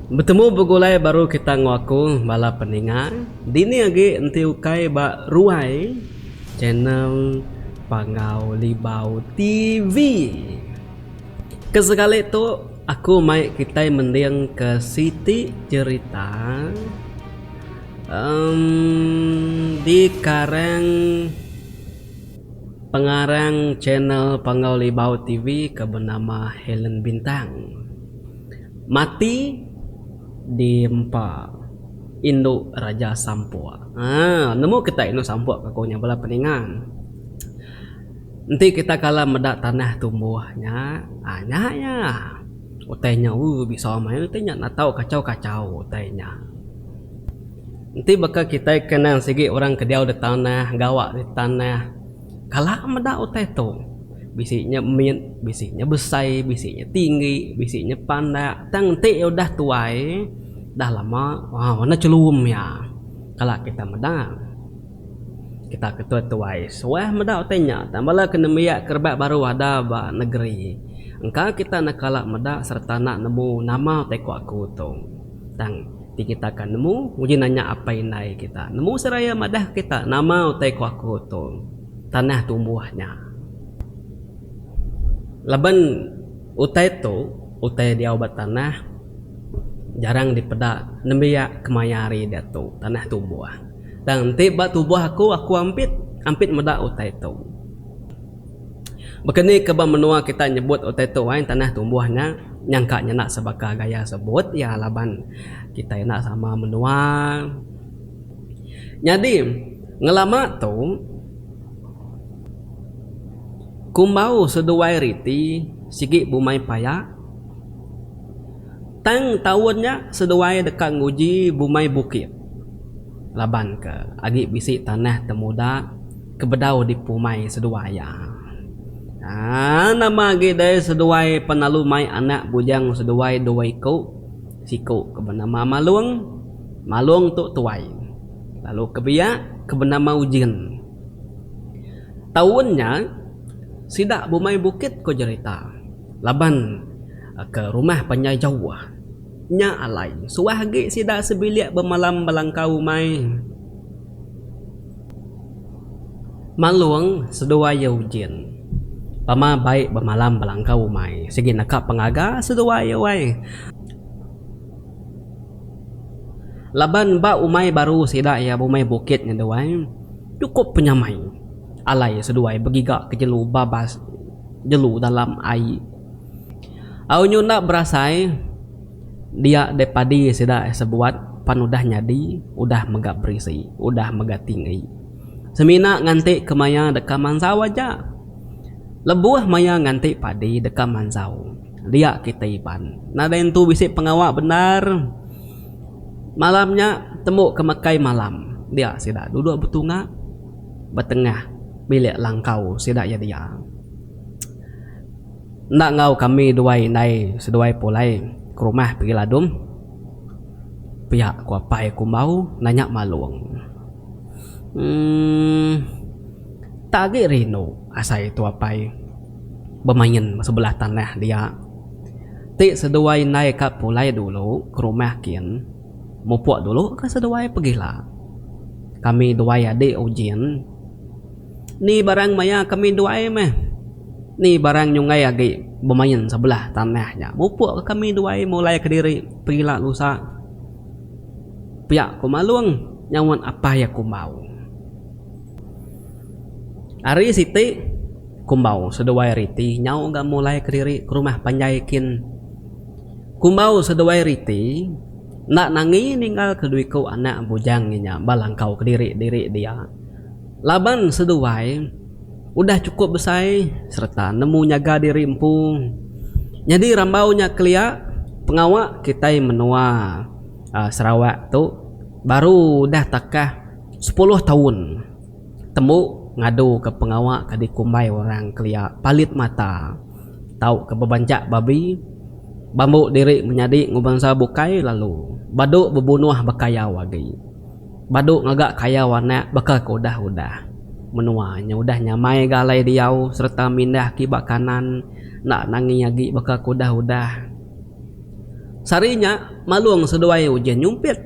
Betemu begulai baru kita enggau aku bala peninga dini agi enti ukai ba ruai channel Panggau Libau TV. Ke sekali tu aku mai kitai mending ke siti cherita. Di karang pengarang channel Panggau Libau TV ke benama Helen Bintang mati di empa indu Raja Sampok. Haa nemu kitai indu Sampok ke kunya bala peningan. Enti kitai kala meda tanah tumbuh nya haa nya iya utai nya ooh bisa maya utai nya natau kachau-kachau utai nya. Enti baka kitai ke endang sigi orang ke diau di tanah, gawa di tanah, kala meda utai tu. Bisi nya mit, bisi nya besai, bisi nya tinggi, bisi nya pandak. Tang enti iya udah tuai, udah lama, uhh warna chelum iya. Kala kitai meda. Kitak ke tuai-tuai suah meda utai nya tang bala ke nembiak ke rebak baru ada ba negeri. Engka kitak ne kala meda sereta enda nemu nama utai ku aku tu. Tang, ti kita ka nemu, uji nanya apai indai kita. Nemu seraya madahka kita nama utai ku aku tu tanah tumbuh nya. Laban utai tu, utai diau ba tanah jarang dipeda nembiak kemaya hari diatu tanah tumbuh. Tang, enti ba tubuh aku, aku ampit, ampit meda utai tu. Baka ni ke ba menua kita nyebut utai tu ai tanah tumbuh nya nyangka nya enda sebaka gaya sebut iya laban kitai enda sama menua. Nyadi ngelama tu kumbau seduai riti sigi bumai paya tang taun nya seduai deka nguji bumai bukit laban ke agi bisi tanah temuda. ke bedau di pumai seduai iya. Aa nama agi dai seduai penalu mai anak bujang seduai dua iku, siku ke benama Malung, Malung tu tuai, lalu ke biak ke benama Ujin. Taun nya sida bumai bukit ko jerita laban ke rumah panjai jauh. Nya alai suah agi sida sebilik bemalam belangkau umai. Malung seduai iya ujin. Pama baik bemalam belangkau umai sigi neka pengaga seduai iya wai. Laban ba umai baru sida iya bumai bukit ngeduai chukup penyamai alai seduai begiga ke jelu babas jelu dalam ai. Au nyu enda berasai dia deh padi sida eh sebuat pan udah nyadi udah mega berisi udah mega tinggi. Semina nganti ke maya deka mansau aja. Lebuh maya nganti padi deka mansau dia kita iban. Nadai entu bisi pengawa bendar. Malam nya tembu ke mekai malam dia sida duduk betunga betengah bilik langkau sida iya dia. Enda enggau kami duai indai seduai pulai ke rumah pigi Ladum. Pia ku apai aku embau nanya malung. Emm. Tak agi rindu asai tu apai bemain ba sebelah tanah dia. Ti seduai indai ka pulai dulu ke rumah kin mupuk dulu ka seduai pegila. Kami duai adik Ujin Ni barang maya kami duai meh. Ni barang nyunggai agi bemain sebelah tanah nya. Mupuk ka kami duai mulai kediri pila lusa. Pia ku Malung nyaunt apai iya Kumbau. Ari siti, Kumbau seduai riti nyau ga mulai kediri ke rumah panjai kin. Kumbau seduai riti enda nangi ninggal ke dua iku anak bujang inya ba langkau kediri-diri dia. Laban seduai udah chukup besai sereta nemu nyaga diri empu, nyadi rambau nya kelia pengawa kitai menua Sarawak tu baru udah takah sepuluh taun tembu ngaduka pengawa ke dikumbai orang kelia palit mata tauka bebanchak babi, bambu diri menyadi enggau bansa bukai lalu badu bebunuh bekayau agi. Badu ngaga kayau anak baka ke udah-udah. Menua nya udah nyamai ga alai diau sereta mindah ke iba kanan enda nangi agi baka ke udah-udah. Sehari nya Malong seduai Ujan nyumpit.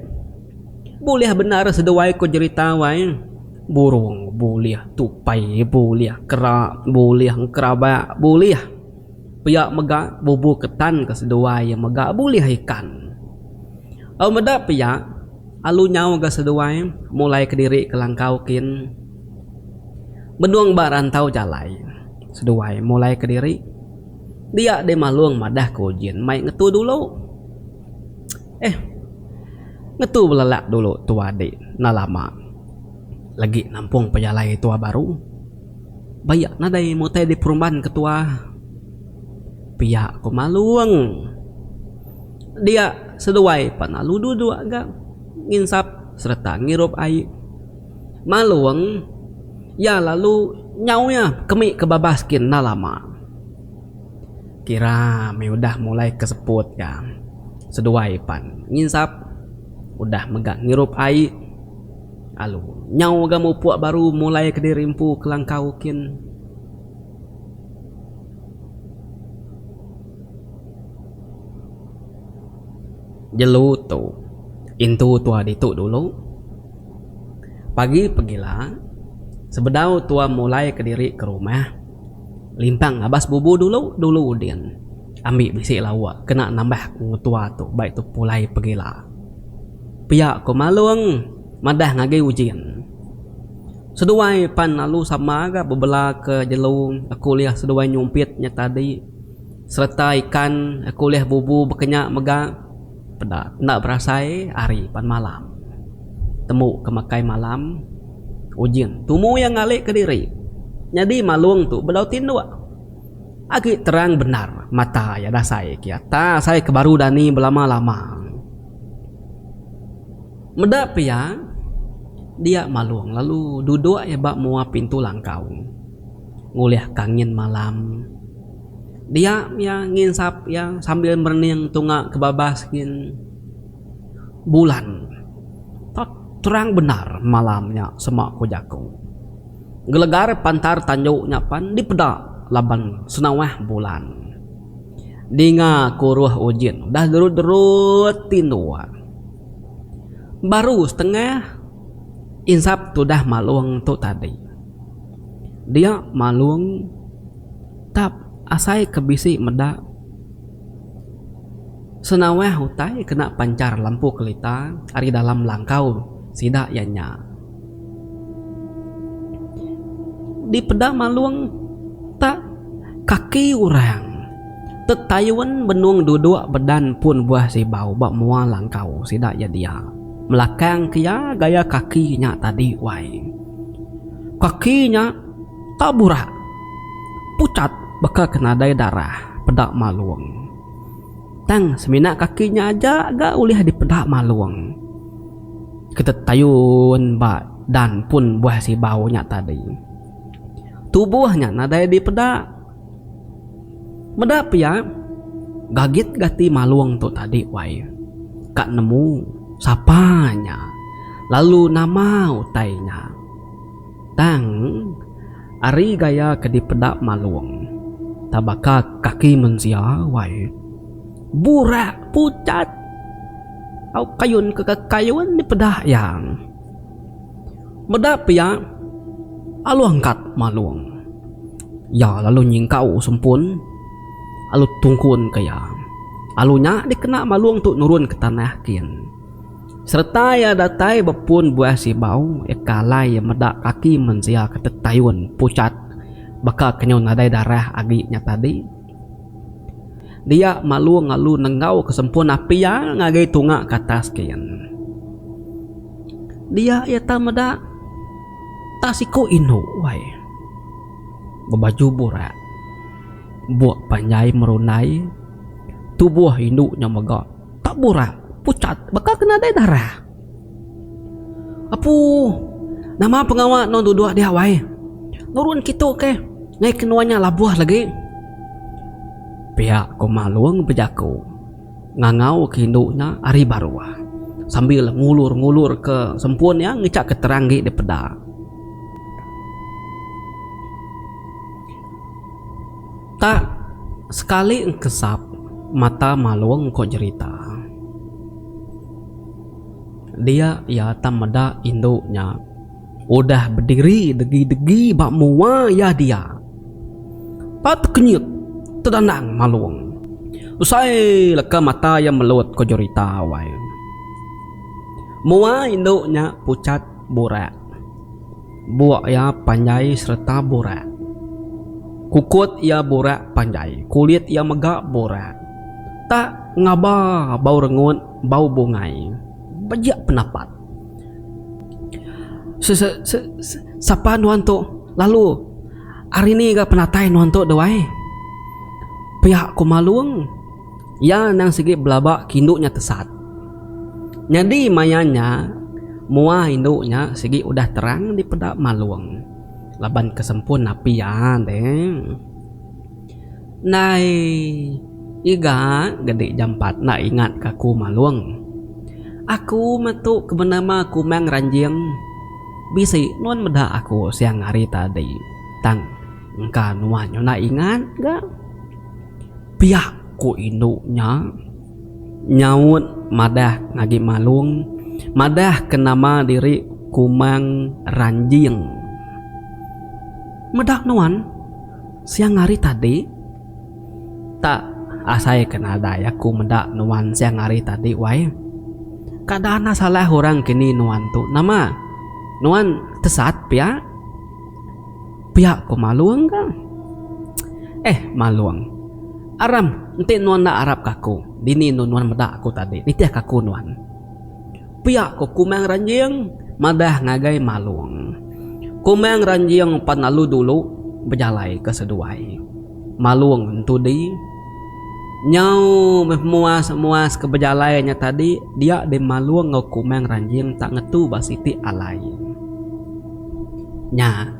Bulih bendar seduai ko jerita wai. Burong bulih, tupai bulih, kera bulih, engkerabak bulih. Pia mega bubu ketan ke seduai iya mega bulih ikan. Au meda pia, alu nyau ga seduai mulai kediri ke langkau kin. Benung ba rantau jalai, seduai mulai kediri dia deh malung madah ke ujin mai ngetu dulu. Eh, ngetu belelak dulu tua dik enda lama legi nampung pejalai tua baru. Bayak nadai mutai di perumban ke tua. Pia ko Malung. Dia seduai pan lalu duduk ga nginsap sereta ngirup ai. Malung iya lalu nyau iya kemi ke babas gin enda lama. Kira meh udah mulai ke seput ga seduai pan nginsap udah mega ngirup ai. Alu. Nyau mega mupuk baru mulai kediri empu kelangkau kin. Jelu tu. Intu tua ditu dulu. Pagi pegila, sebedau tua mulai kediri ke rumah, limpang abas bubu dulu dulu udin. Ambi bisi lauk kena nambah ku ngetua tu bai tu pulai pegila. Pia ko Malong madah ngagi ujin. Seduai pan lalu sama ga bebela ke jelu aku ulih seduai nyumpit nya tadi sereta ikan aku ulih bubu bekenya mega peda enda berasai ari pan malam temu ke makai malam ujin tumu iya ngalik kediri nyadi Malong tu bedau tinduk. Agi terang bendar mata iya dasai kiat ta sai ke baru dani belama-lama. Meda pia dia Malong lalu dudok iya ba mua pintu langkau ngulih ka angin malam. Dia iya nginsap iya sambil merening tunga ke babas gin bulan. Terang bendar malam nya sema ku jaku. Gelegar pantar tanju nya pan dipeda laban senawah bulan. Dinga kuruh ujin udah gerut-gerut tinduk. Baru setengah insap tudah malung tu tadi. Dia malung tap asai ke bisi meda senawah utai kena pancar lampu kelita ari dalam langkau sida iya nya. Di peda Malung tak kaki orang tetayun benung duduk bedan pun buah sibau ba mua langkau sida iya dia. Melakang ke iya gaya kaki nya tadi wai. Kaki nya tak burak pucat baka ke nadai darah peda Malung. Tang semina kaki nya aja ga ulih dipeda Malung. Ketetayun ba dan pun buah sibau nya tadi. Tubuh nya nadai dipeda. Meda pia, gagit gati Malung tu tadi wai. Ka nemu sapa nya lalu nama utai nya. Tang ari gaya ke dipeda Malung, tebaka kaki mensia wai. Burak pucat au kayun ke kekayun dipeda iya. Meda pia, alu angkat malung. Iya lalu nyingkau sempun alu tungkunka iya. Alu nya dikena malung tu nurunka tanah kin. Sereta iya datai ba pun buah sibau, iya ke alai iya meda kaki mensia ke tetayun pucat baka ke nyau nadai darah agi nya tadi. Dia malu ngalu nenggau ke sempurna pia ngagai tunga ke atas gin. Dia iya tau meda tak siku indu wai bebaju burak buk panjai merundai tubuh indu nya mega tak burak pucat baka ke nadai darah. Apu, nama pengawa nuan duduk dia wai? Nurun kitu keh, ngai ke nuan nya labuh lagi. Pia ko Malong bejako ngangau ke indu nya ari baruh sambil ngulur-ngulur ke sempun iya ngecak ke terang agi dipeda. Tak sekali engkesap mata Malong ko jerita. Dia iya tang meda indu nya udah bediri degi-degi ba mua iya dia. Pat kenyit tedandang malung. Usai leka mata iya melut ko Jorita wai. Mua indu nya pucat burak. Buk iya panjai sereta burak. Kukut iya burak panjai. Kulit iya mega burak. Tak ngaba bau rengut bau bungai bejak penapat. Sapa nuan tu lalu ari ni ga penatai nuan tu duai. Pia ku Malung iya endang sigi belaba ke indu nya tesat. Nyadi maya nya mua indu nya sigi udah terang dipeda Malung laban ke sempun napi iya deh. Nai iga gedi jampat enda ingat ka aku malung. Aku metu ke benema kumang ranjing bisi nuan meda aku siang hari tadi tang engka nuan nyunak ingat ga. Piak ku indu nya nyaut madah agi malung madah ke nama diri kumang ranjing. Meda nuan. Siang hari tadi? Tak, asai ke nadai aku meda nuan siang hari tadi wai. Kada anak salah orang kini nuan tu nama? Nuan tesat pia? Pia ko Malung ka. Eh Malung, aram enti nuan enda arap ka aku, dini endo nuan meda aku tadi, nitih ka aku nuan. Pia ko Kumang Ranjing madah ngagai Malong. Kumang Ranjing pan lalu dulu bejalai ke seduai Malong entu di. Nyau meh muas muas ke bejalai nya tadi dia di Malong enggau Kumang Ranjing tak ngetu ba siti alai. Nya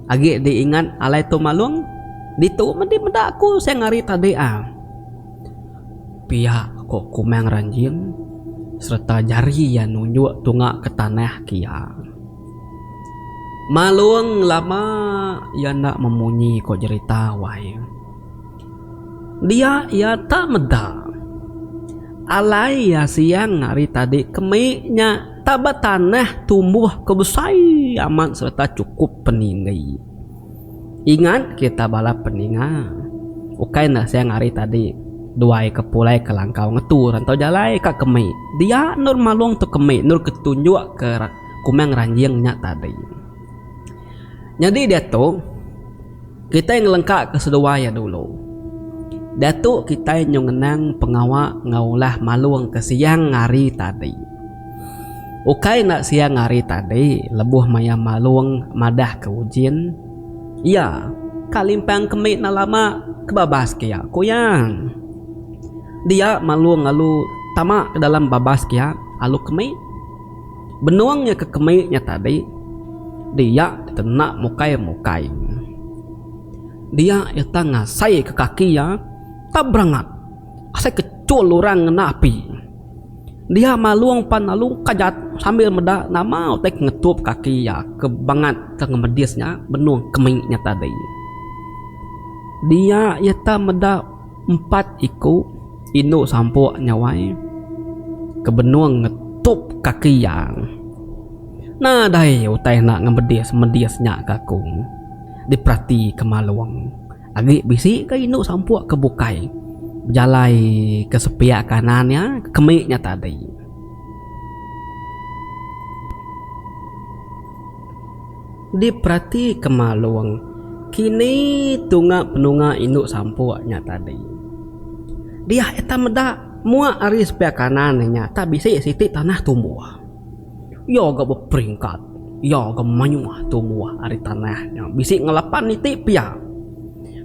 agi di ingat alai tu Malong? Ditu meh di meda ku seng hari tadi ah. pia ko Kumang Ranjing sereta jari iya nunjuk tunga ke tanah ke iya. Malong lama iya enda memunyi ko jerita wai. Dia iya tak meda. Alai iya siang ari tadi kemi nya taba tanah tumbuh ke besai amat sereta chukup peninggi. Ingat kita bala peninga, ukai enda siang hari tadi duai ke pulai ke langkau ngetu rantau jalai ka kemi. Dia endur malong tu kemi endur ke tunjuk ke kumang ranjing nya tadi. Nyadi diatu kitai ngelengka ke seduai iya dulu. Diatu kitai nyu ngenang pengawa enggau ulah malong ke siang hari tadi. Ukai enda siang ari tadi lebuh maya Malung madah ke Ujin, Iya, ka limpang kemi enda lama ke babas kia, ku iya. Dia Malung lalu tama ke dalam babas kia alu kemi. Benung iya ke kemi nya tadi, dia deka enda mukai-mukai. Dia iya tang ngasai ke kaki iya, tang berangat asai ke chul orang ngena api. Dia malung pan lalu kajat sambil meda nama utai ke ngetup kaki iya ke bangat ke ngemedis nya benung kemi nya tadi. Dia iya ta meda empat iku indu sampok nya wai ke benung ngetup kaki iya. Nadai utai enda ngemedis-medis nya ka ku diperatika Malung. Agi bisi ka indu sampuk ke bukai bejalai ke sepiak kanan iya ke kemik nya tadi. Diperatika Malong, kini tunga penunga indu sampuk nya tadi. Diah iya tan meda, muak ari sepiak kanan iya nya tak bisi siti tanah tumbuh. Iya ga beperingkat. Iya ga mayuh tumbuh ari tanah nya bisi ngelapan iti pia.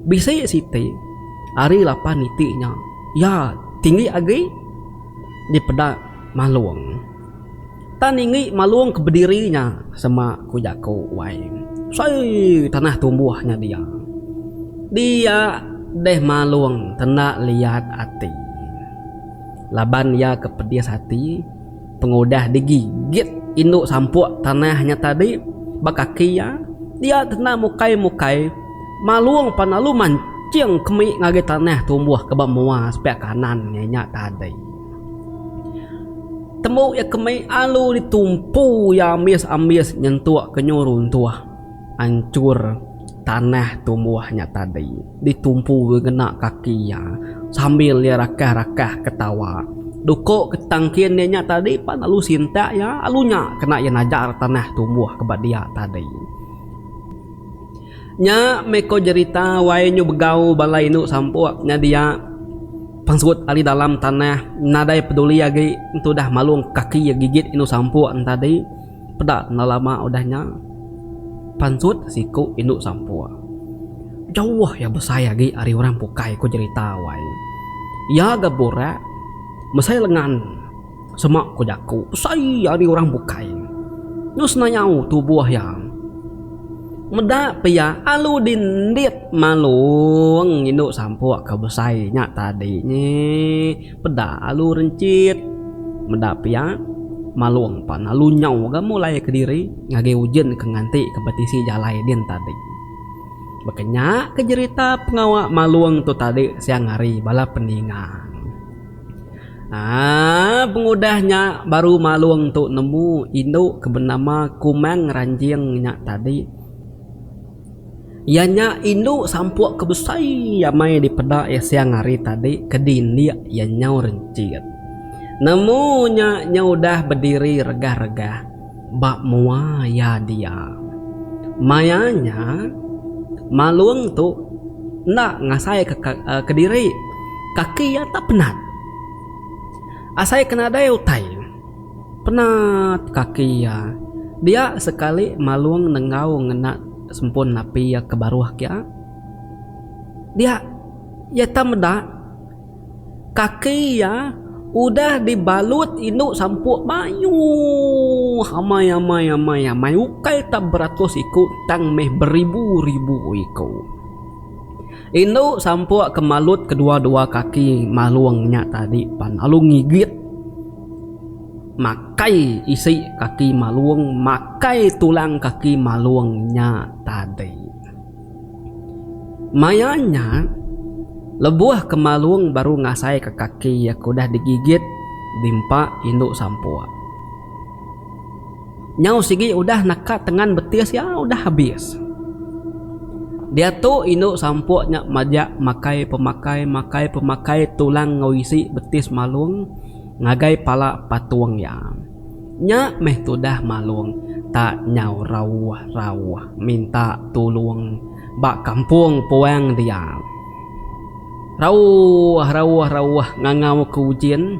Bisi siti ari lapan iti nya iya tinggi agi dipeda Malong. Tan ningi Malong ke bediri nya sema ku jaku wai. Sei tanah tumbuh nya dia. Dia deh Malong tenda liat ati. Laban iya ke pedis ati. Pengudah digigit indu sampuk tanah nya tadi ba kaki iya, dia kena mukai-mukai malung pan lalu manching kemi ngagai tanah tumbuh ke ba mua sepiak kanan iya nya tadi. Tembu iya kemi lalu ditumpu iya ambis-ambis nyentuk ke nyu runtuh. anchur tanah tumbuh nya tadi ditumpu ngena kaki iya sambil iya rakah-rakah ketawa. Duko ketangkin iya nya tadi pan lalu sintak iya lalu nya kena iya najar tanah tumbuh ke ba dia tadi. Nya meh ko jerita wai nyu begau bala indu sampok nya dia pengesut ari dalam tanah nadai peduli agi entu udah malung kaki iya gigit indu sampok nya tadi. Peda enda lama udah nya, pansut siku indu sampur. Jauh iya besai agi ari orang bukai ku jerita wai. Iya ga burak mesai lengan sema ku jaku besai ari orang bukai. Nya senayau tubuh iya. Meda pia alu dindit malung indu sampur ke besai nya tadi nyi. Peda alu rencit meda pia malong pan alu nyau ga mulai kediri ngagai ujin ke nganti ke betisi jalai din tadi. Baka nya ke jerita pengawa malong tu tadi siang hari bala peningang. Aaa pengudah nya baru malong tu nemu indu ke benama Kumang Ranjing nya tadi. Iya nya indu sampuk ke besai amai dipeda iya siang hari tadi ke dindik iya nyau rencit. Nemu nya iya udah bediri regah-regah ba mua iya dia. Maya nya, Malung tu enda ngasaika kediri. Kaki iya enda penat asai ke nadai utai. Penat kaki iya. Dia sekali Malung nenggau ngena sempun napi iya ke baruh kia. Dia iya tau meda kaki iya udah dibalut indu sampuk mayuh amai amai amai amai ukai tau beratus iku tang meh beribu ribu iku. Indu sampuk ke malut kedua dua kaki Malung nya tadi pan lalu ngigit. Makai isi kaki malung makai tulang kaki malung nya tadi. Maya nya lebuh ke malung baru ngasai ke kaki iya ke udah digigit dimpa indu sampuk. Nyau sigi udah naka tengan betis iya udah habis. Diatu indu sampok nya majak makai pemakai makai pemakai tulang enggau isi betis malung ngagai pala patong iya. Nya meh tudah malung ta nyau rauh rauh minta tulong ba kampong puang dia. Rauh rauh rauh ngangau ke ujin.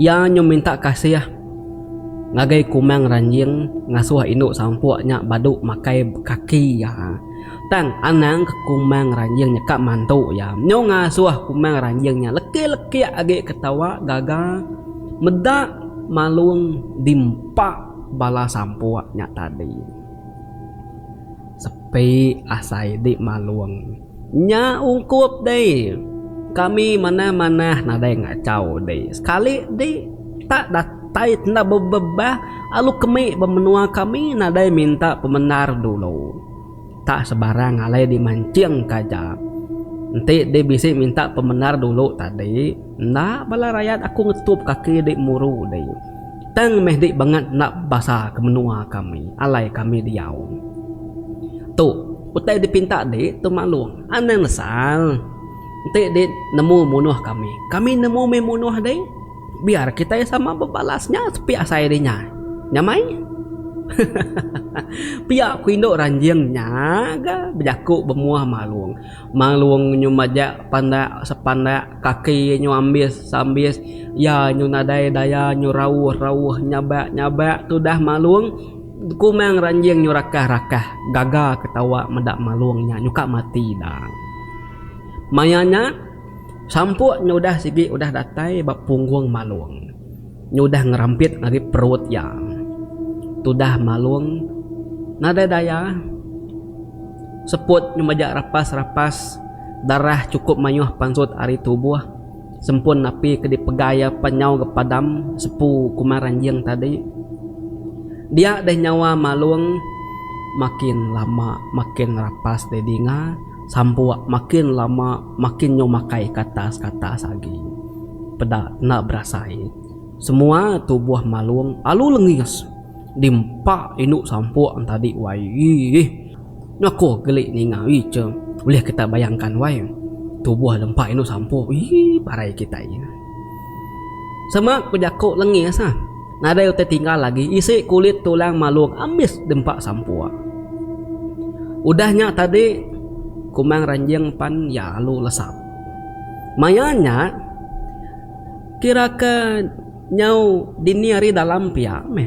Iya nyau minta kasih ngagai Kumang Ranjing ngasuh indu sampuk nya badu makai kaki iya. Tang anang ke Kumang Ranjing nyeka mantu iya nyau ngasuh Kumang Ranjing nya lekik-lekik agi ketawa gaga meda Malung dimpa bala sampuk nya tadi. Sepi asai di Malung. Nya ungkup deh. Kami manah-manah nadai ngachau deh. Sekali deh tak datai enda bebebah alu kemi ba menua kami nadai minta pemendar dulu. Tak sebarang alai dimanching ka aja. Enti deh bisi minta pemendar dulu tadi enda bala rayat aku ngetup kaki deh muru deh. Tang meh di bangat enda basa ke menua kami alai kami diau. Tu utai dipinta di tu maklong anang nesal. Enti di nemu munoh kami, kami nemu meh munoh di. Biar kitai sama bebalas nya sepi asai di nya. Nya mai. Hahaha. Pia ku indu ranjing nya ga bejaku bemuah maklong. Manglung nyu majak pandak sepandak, kaki nyu ambis seambis, iya nyu nadai daya nyu rauh rauh nyabak nyabak tudah Manglung. Kumang ranjing nyu rakah rakah gaga ketawa meda Manglung nya nyuka mati dang. Maya nya sampuk nyu udah sigi udah datai ba punggung Manglung. Nyudah ngerampit ari perut iya. Tudah Malung nadai daya. Seput ngemajak rapas-rapas darah chukup mayuh pansut ari tubuh sempun napi ke dipegai iya pan nyau ga padam sepu kuma ranjing tadi. Dia deh nyawa Malung makin lama makin rapas deh dinga. Sampok makin lama makin nyau makai katas katas agi. Peda enda berasai. Semua tubuh Malong alu lengis di empa indu Sampok nang tadi wai iih. Nyako geli ninga icha ulih kitai bayangkan wai tubuh di empa indu Sampok iih parai kitai. Sema ku jaku lengis ah. Nadai utai tinggal agi isi kulit tulang malung ambis dempa sampuk. Udah nya tadi ku Mang Ranjing pan iya lalu lesap. Maya nya kira ke nyau dini hari dalam pia meh.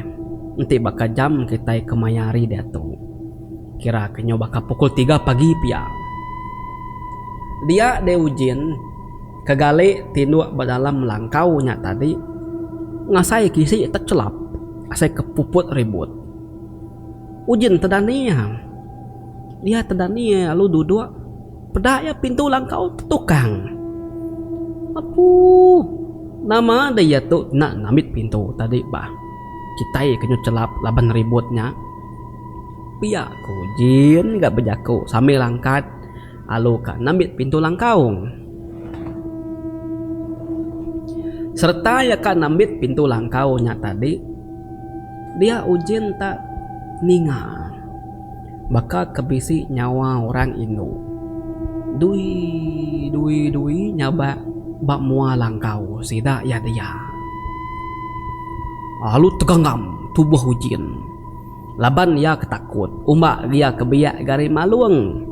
Enti baka jam kitai kemaya hari diatu kira ke nyau baka pukul tiga pagi pia. Dia deh ujin. Kegali tinduk ba dalam langkau nya tadi ngasai kisi techelap asai ke puput ribut. Ujin tedani iya. Dia tedani iya lalu duduk peda iya pintu langkau tetukang. Apu! Nama deh iya tu enda ngambit pintu tadi bah. Kitai ke nyau chelap laban ribut nya. Pia ku Ujin ga bejaku sambil angkat. alu ka nambit pintu langkaung. Sereta iya ka nambit pintu langkau nya tadi, dia Ujin ta ninga baka ke bisi nyawa orang indu dui dui dui nyabak ba mua langkau sida iya dia. Alu teganggam tubuh Ujin. Laban iya ke takut uma iya ke biak ga ari malung.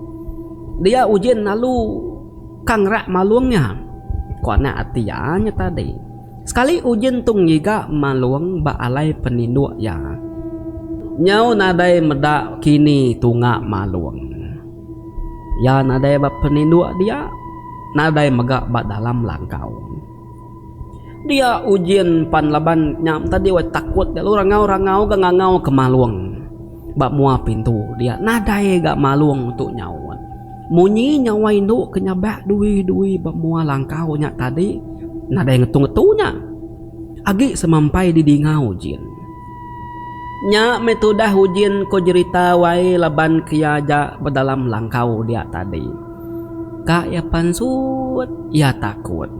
Dia ujin lalu ka ngerak malung nya. Ku anak ati iya nya tadi. Sekali ujin tu ngiga malung ba alai peninduk iya. Nyau nadai meda kini tunga malung. Iya nadai ba peninduk dia, nadai mega ba dalam langkau. Dia ujin pan laban nya tadi wai takut lalu rangau-rangau ga ngangau ke malung ba mua pintu dia nadai ga malung tu nyaut. Munyi nyawa indu ke nyabak dui-dui ba mua langkau nya tadi nadai ngetu-ngetu nya agi semampai di dinga ujin. Nya meh tudah ujin ko jerita wai laban ke iya aja ba dalam langkau dia tadi. Ka iya pansut, iya takut.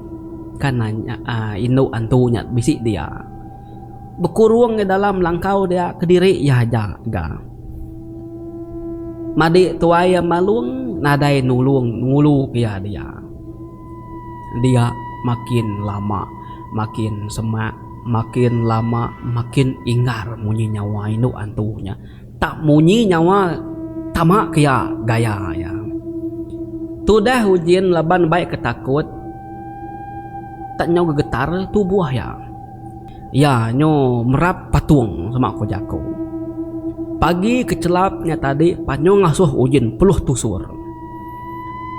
Ka nanya indu antu nya bisi dia. Bekurung iya dalam langkau dia kediri iya aja ga. Madi tuai iya Malung nadai nulung ngulu ka iya dia. Dia makin lama makin semak, makin lama makin inggar munyi nyawa indu antu nya. Tak munyi nyawa tama ke iya gaya iya. Tudah Ujin laban bai ke takut tak nyau gegetar tubuh iya. Iya nyu merap patung sema ko jako. Pagi ke chelap nya tadi panyo ngasuh Ujin peluh tusur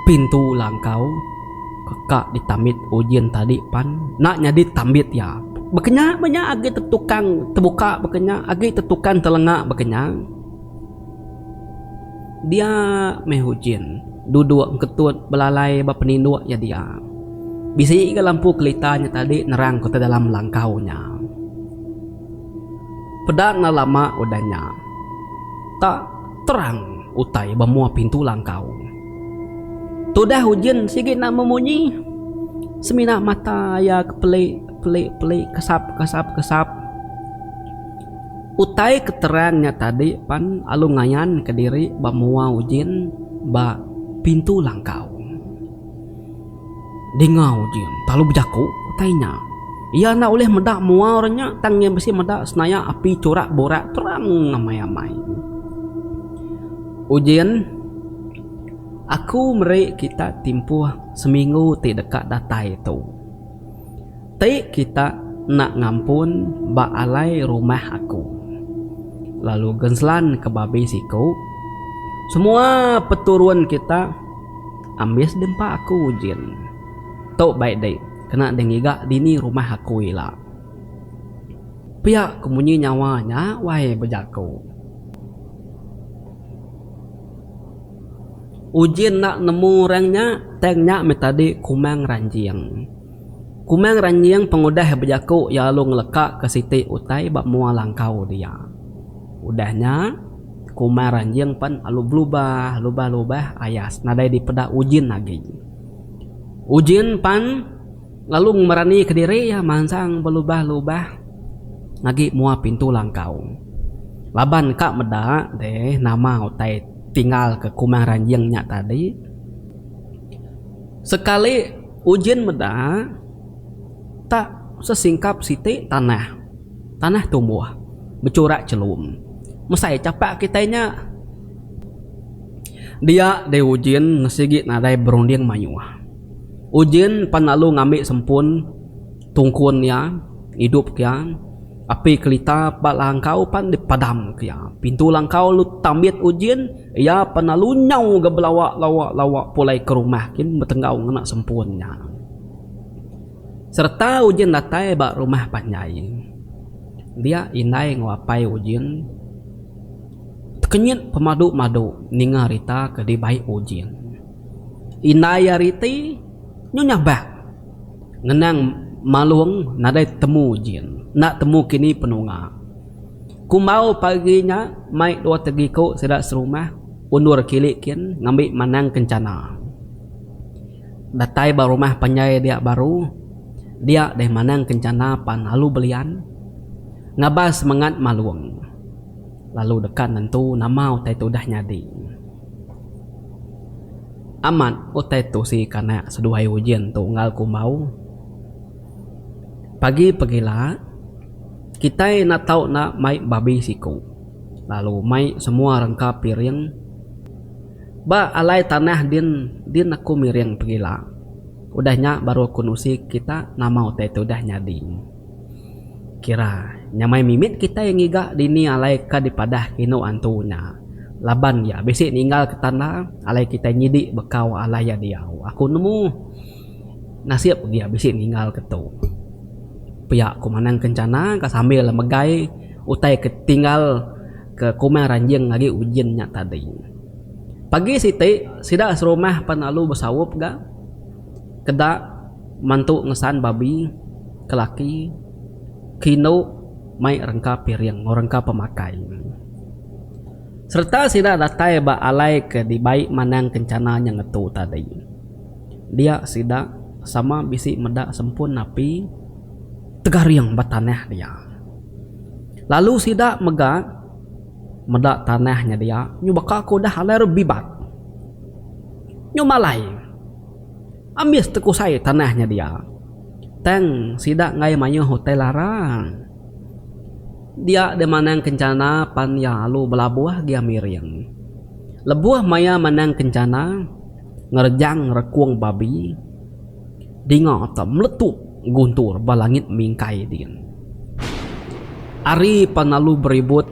pintu langkau. Ka di tambit Ujin tadi pan enda nyadi tambit iya. Baka nya meh nya agi tetukang tebuka baka nya agi tetukang telenga baka nya. Dia meh Ujin duduk engketut belalai ba peninduk iya dia. Bisi ga lampu kelita nya tadi nerang ku te dalam langkau nya. Peda enda lama udah nya tak terang utai ba mua pintu langkau. Tudah ujin sigi enda memunyi. Semina mata iya ke peli, peli, peli kesap, kesap, kesap. Utai ke terang nya tadi pan lalu ngayanka diri ba mua ujin ba pintu langkau. Dingau ji enta lalu bejaku utai nya. Iya enda ulih meda mua orang nya tang iya bisi meda senayak api churak burak terang amai-amai. Ujin, Aku meri kita timpuh seminggu ti deka datai tu. Ti kita enda ngampun ba alai rumah aku. Lalu Genslan ke babi siku, Semua peturun kita. Ambis dempa aku ujin. Tu baik dih kena dih ngiga dini rumah aku ila. Pia ku munyi nyawa nya wai bejaku. Ujin enda nemu orang nya tang nya meh tadi kumang ranjing. Kumang Ranjing pengudah bejaku iya lalu ngelekaka siti utai ba mua langkau dia. Udah nya, Kumang Ranjing pen lalu belubah lubah-lubah ayas nadai dipeda Ujin agi. Ujin pen lalu ngemeranika diri iya mansang belubah-lubah agi mua pintu langkau. Laban ka meda deh nama utai tinggalka Kumang Ranjing nya tadi. Sekali. Ujin meda tak sesingkap siti tanah, tanah tumbuh becurak chelum mesai chapak kitai nya. Dia deh Ujin sigi nadai berunding mayuh. Ujin pan lalu ngambi sempun. Tungkun iya, idup ke iya, api kelita ba langkau pan dipadam ke iya. Pintu langkau lalu tambit ujin, iya pan lalu nyau ga belawa lawa lawa pulai ke rumah kin betenggau ngena sempun iya. Sereta ujin datai ba rumah panjai. Dia indai enggau apai ujin tekenyit pemadu madu ninga rita ke dibai ujin. Indai ari ti nyu nyabak Ngenang Malung nadai temu jin. Enda temu kini penunga. Kumbau pagi nya mai dua tegiku sida serumah undur kili kin ngambi manang kencana. Datai ba rumah panjai dia baru, dia deh manang kencana pan lalu belian ngabas semengat Malung. Lalu deka nentu nama utai tu udah nyadi. Amat, utai tu sigi kanak seduai Ujin tu enggau ku Embau. Pagi pegila, kitai enda tau enda mai babi siku lalu mai semua rengka piring. Ba alai tanah din din aku miring pegila. Udah nya baru aku nusi kita nama utai tu udah nyadi. Kira nyamai mimit kitai ngiga dini alai ka dipadah kinu antu nya laban iya bisi ninggal ke tanda alai kitai nyidi bekau alai iya diau aku nemu nasip dia bisi ninggal ke tu pia ku manang kencana ka sambil megai utai ke tinggal ke kumang ranjing agi ujin nya tadi pagi siti sida serumah pan lalu besaup ga. keda mantu ngesan babi ke laki ke indu mai rengka piring enggau rengka pemakai sereta sida datai ba alai ke dibai manang kencana nyeng ngetu tadi dia sida sama bisi meda sempun api tegaring ba tanah dia lalu sida mega meda tanah nya dia nyu baka ke udah alai re bibat nyu malai. Ambis tekusai tanah nya dia. Tang sida enggai mayuh utai lara. Dia deh manang kencana pan iya alu belabuh gia miring. Lebuh maya manang kencana, ngerejang rekung babi dinga te meletup guntur ba langit mingkai din. Ari pan alu beribut.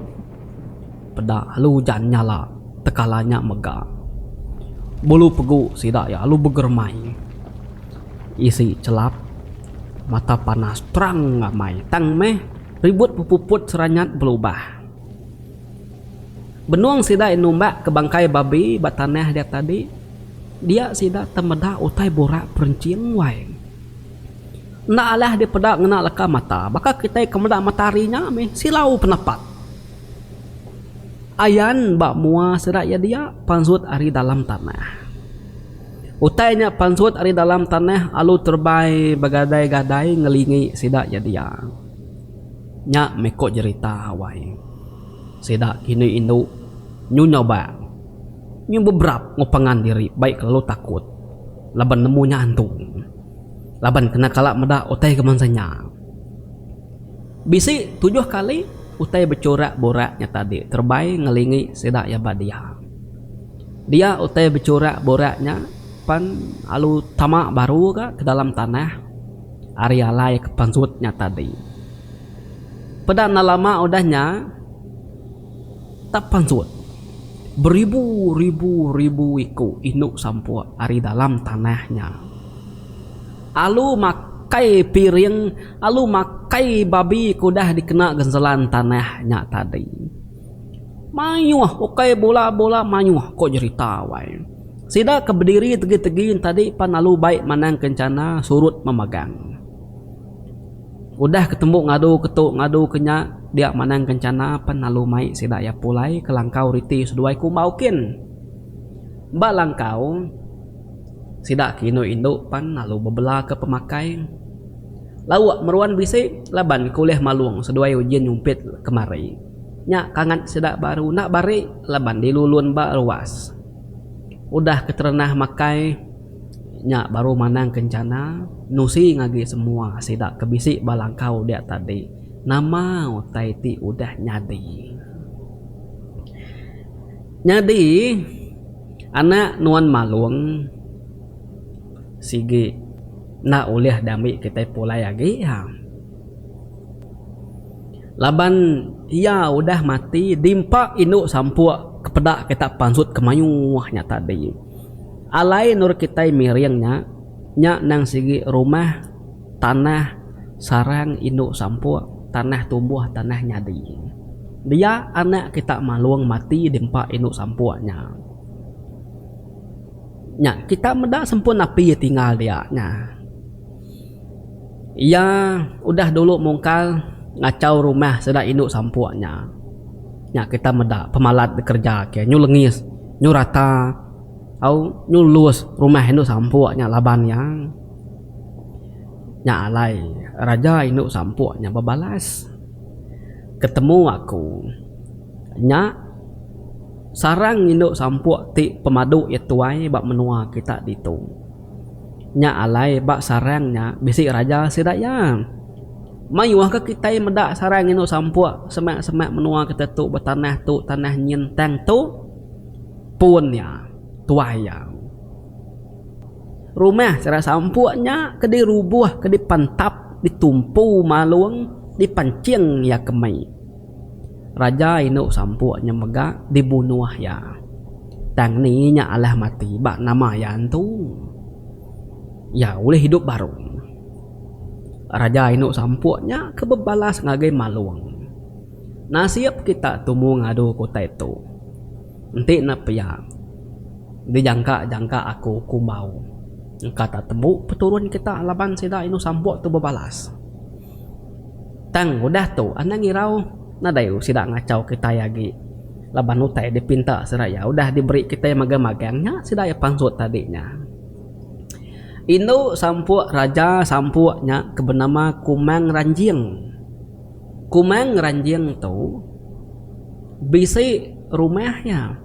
Peda alu ujan nyala tekala nya mega. Bulu pegu sida iya alu begeremai. Isi chelap, mata panas terang ngamai tang meh ribut pepuput seranyat belubah. Benung sida iya numbak ke bangkai babi ba tanah dia tadi, dia sida temeda utai burak perenching wai. Enda alah dipeda ngena leka mata. Baka kitai ke meda matahari nya mih silau penepat. Ayan ba mua sida iya dia pansut ari dalam tanah. Utai nya pansut ari dalam tanah alu terebai begadai-gadai ngelingi sida iya dia. Nya mih ko jerita awai sida kini indu nyu nyoba nyu beberap ngepengan diri bai kelalu takut laban nemu nya antu. laban kena kala meda utai ke bansa nya. Bisi tujuh kali utai bechurak burak nya tadi terebai ngelingi sida iya ba dia. Dia utai bechurak burak nya pan lalu tama baru ga ke dalam tanah ari alai ke pansut nya tadi. Peda enda lama udah nya. Tak pansut, beribu-ribu-ribu iku indu sampuk ari dalam tanah nya alu makai piring alu makai babi ke udah dikena genselan tanah nya tadi. Mayuh ukai bula-bula mayuh ko jerita wai. Sida ke bediri tegi-tegi nya tadi pan alu bai manang kencana surut memegang. Udah ke tembu ngadu ke tu ngadu ke nya dia manang kencana pen lalu mai sida iya pulai ke langkau riti seduai ke umbau kin. Ba langkau sida ke indu indu pen lalu bebela ke pemakai lauk meruan bisi laban ke ulih malung seduai ujin nyumpit kemari. Nya kangat sida baru enda bari laban dilu lun ba ruas. Udah ke terenah makai. Nya baru manang kencana nusi ngagi semua sida ke bisi ba langkau dia tadi nama utai ti udah nyadi. Nyadi anak nuan Malong sigi enda ulih diambi kitai pulai agi iya. Laban iya udah mati di empa indu sampuk ke peda kita pansut ke mayuh nya tadi. Alai endur kitai miring nya, nya endang sigi rumah, tanah, sarang indu sampuk, tanah tumbuh, tanah nyadi. Dia anak kita malung mati di empa indu sampuk nya. Nya kita meda sempun napi tinggal dia nya. Iya udah dulu mungkal ngachau rumah sida indu sampuk nya. Nya kita meda pemalat dikerja ke nyu lengis, nyu rata. Au nyulus rumah indu sampuk nya laban iya. Nya alai raja indu sampuk nya bebalas, Ketemu aku. Nya sarang indu sampuk ti pemadu iya tuai ba menua kita ditu. Nya alai ba sarang nya bisi raja sida iya. Mayuh ke kitai meda sarang indu sampuk semak-semak menua kita tu betanah tu tanah nyin tang tu. pun nya tuai iya. Rumah sera sampuk nya ke dirubuh ke dipentap ditumpu malung dipanching iya ke mei. Raja indu sampuk nya mega dibunuh iya. Tang ni nya alah mati ba nama iya antu. Iya ulih idup baru. Raja indu sampuk nya ke bebalas ngagai malung. Nasib kita tumu ngadu ke utai tu. Enti ne pia, dijangka-jangka aku kumbau engka tak tembu peturun kita laban sida indu sampok tu bebalas. Tang udah tu anang irau nadai sida ngachau kitai agi laban utai dipinta seraya udah diberi kitai magang-magang nya sida iya pansut tadi nya. Indu sampok raja sampok nya ke benama Kumang Ranjing. Kumang ngeranjing tu bisi rumah iya.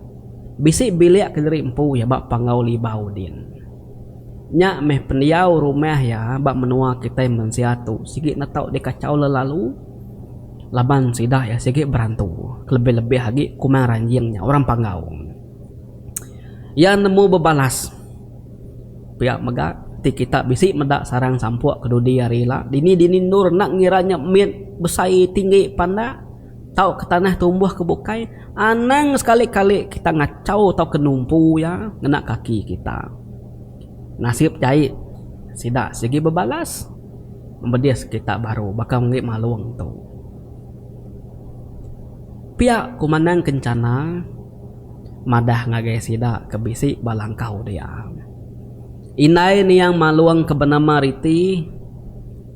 Bisi bilik ke nyeri empu iya ba Panggau Libau din. Nya meh pendiau rumah iya ba menua kitai mensia tu sigi enda tau dikachau lelalu laban sida iya sigi berantu kelebih-lebih agi Kumang Ranjing nya orang Panggau. Iya nemu bebalas. Pia mega ti kita bisi meda sarang sampok ke dudi hari ila. Dini dini endur enda ngira nya mit besai tinggi pandak tauka tanah tumbuh ke bukai. Anang sekali kali kita ngachau tauka numpu iya ngena kaki kita. Nasib jai sida sigi bebalas membedis kita baru baka meri malong tu. Pia ku manang ke chana. madah ngagai sida ke bisi ba langkau dia. Indai niang Malong ke benama Riti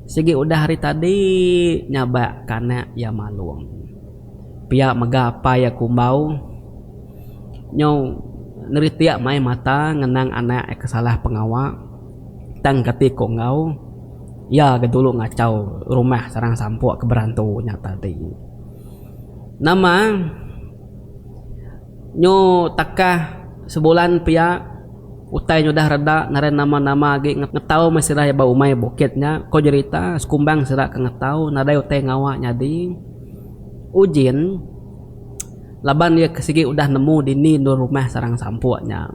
sigi udah hari tadi nyabak kanak iya Malong pia mega apai iya Kumbau nyu neritik mai mata ngenang anak iya ke salah pengawa tang kati ku enggau iya ga dulu ngachau rumah sarang sampuk ke berantu nya tadi. Nama. Nyu takah sebulan pia utai nya udah reda ngaran nama nama agi ngetau meh sida ba umai bukit nya ko jerita sekumbang sida ke ngetau nadai utai ngawa nyadi ujin laban iya ke sigi udah nemu dini enda rumah sarang sampuk nya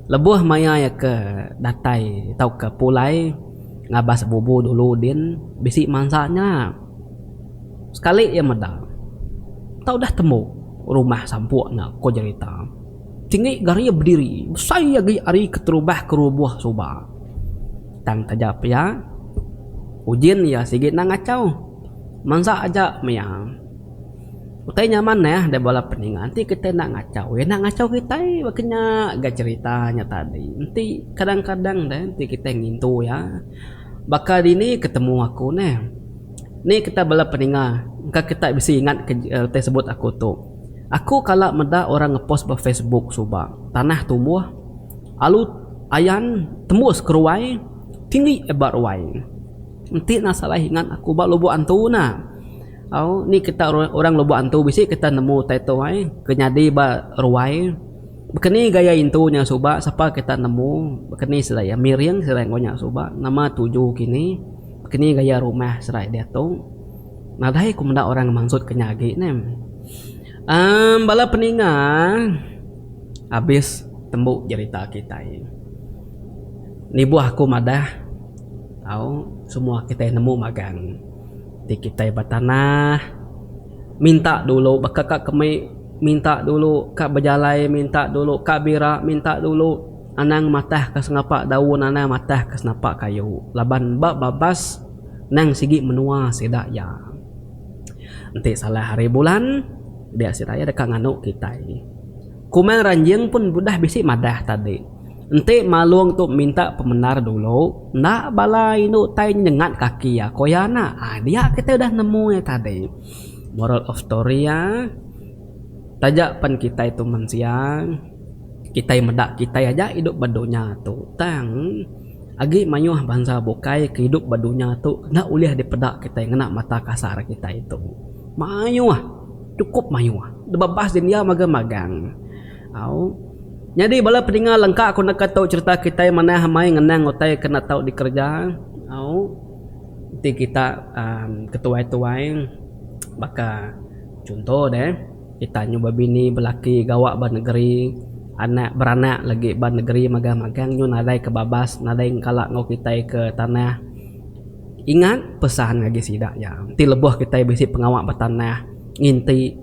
lebuh maya iya ke datai tauka pulai ngabas bubu dulu din bisi mansa nya. Sekali iya meda, tau udah tembu rumah sampuk nya ko jerita. Tinggi garia bediri besai agi ari keterubah kerubuh suba. Tang taja pia, ujin iya sigi nang ngachau. Mansa aja mia. Utai nya manah deh bala peninga enti kitai enda ngachau iya enda ngachau kitai ba kinya ga jerita nya tadi. Enti kadang-kadang deh enti kitai ngintu iya. Baka dini ke temu aku neh. Ni kitai bala peninga engka kitai bisi ingat ke reti sebut aku tu. Aku kala meda orang ngepost ba facebook suba tanah tumbuh alu ayan tembus keruai tinggi ba ruai. Enti ne salah ingat aku ba lubok antu ena. Au ni kitai orang lubok antu bisi kitai nemu utai tu ai ke nyadi ba ruai. Baka ni gaya intu nya suba sapa kita nemu baka ni sida iya miring sida engau nya suba nama tuju kini baka ni gaya rumah sida iya diatu nadai ku menda orang mansut ke nya agi ne uhh bala peninga abis tembu jerita kitai nibuh aku madah tau semua kitai nemu magang ti kitai betanah. Minta dulu baka ka kemi minta dulu ka bejalai minta dulu ka bira minta dulu anang matah ka sengapa daun anang matah ka sengapa kayu laban ba babas nang sigi menua sida iya enti salah hari bulan dia sida iya deka nganu kitai. Kumang ranjing pun udah bisi madah tadi. Enti Malung tu minta pemendar dulu, enda bala indu tai nyengat kaki iya, ko iya enda. Ai dia kitai udah nemu iya tadi. Moral of story iya, taja pen kitai tu mensia, kitai meda kitai aja idup ba dunya tu tang agi mayuh bansa bukai ke idup ba dunya tu enda ulih dipeda kitai ngena mata kasar kitai tu. Mayuh, cukup mayuh. Debabas india magang-magang. Au. Nyadi bala pedinga lengka ku naka tau cherita kitai manah amai ngenang utai ke enda tau dikereja. Au. Enti kita uhh ketuai-tuai baka chunto deh kita nyuba bini belaki gawa ba negeri anak beranak lagi ba negeri magang-magang nyun nadai ke babas nadai kala enggau kitai ke tanah. Ingat pesan ngagai sida nya enti lebuh kitai bisi pengawa ba tanah nginti.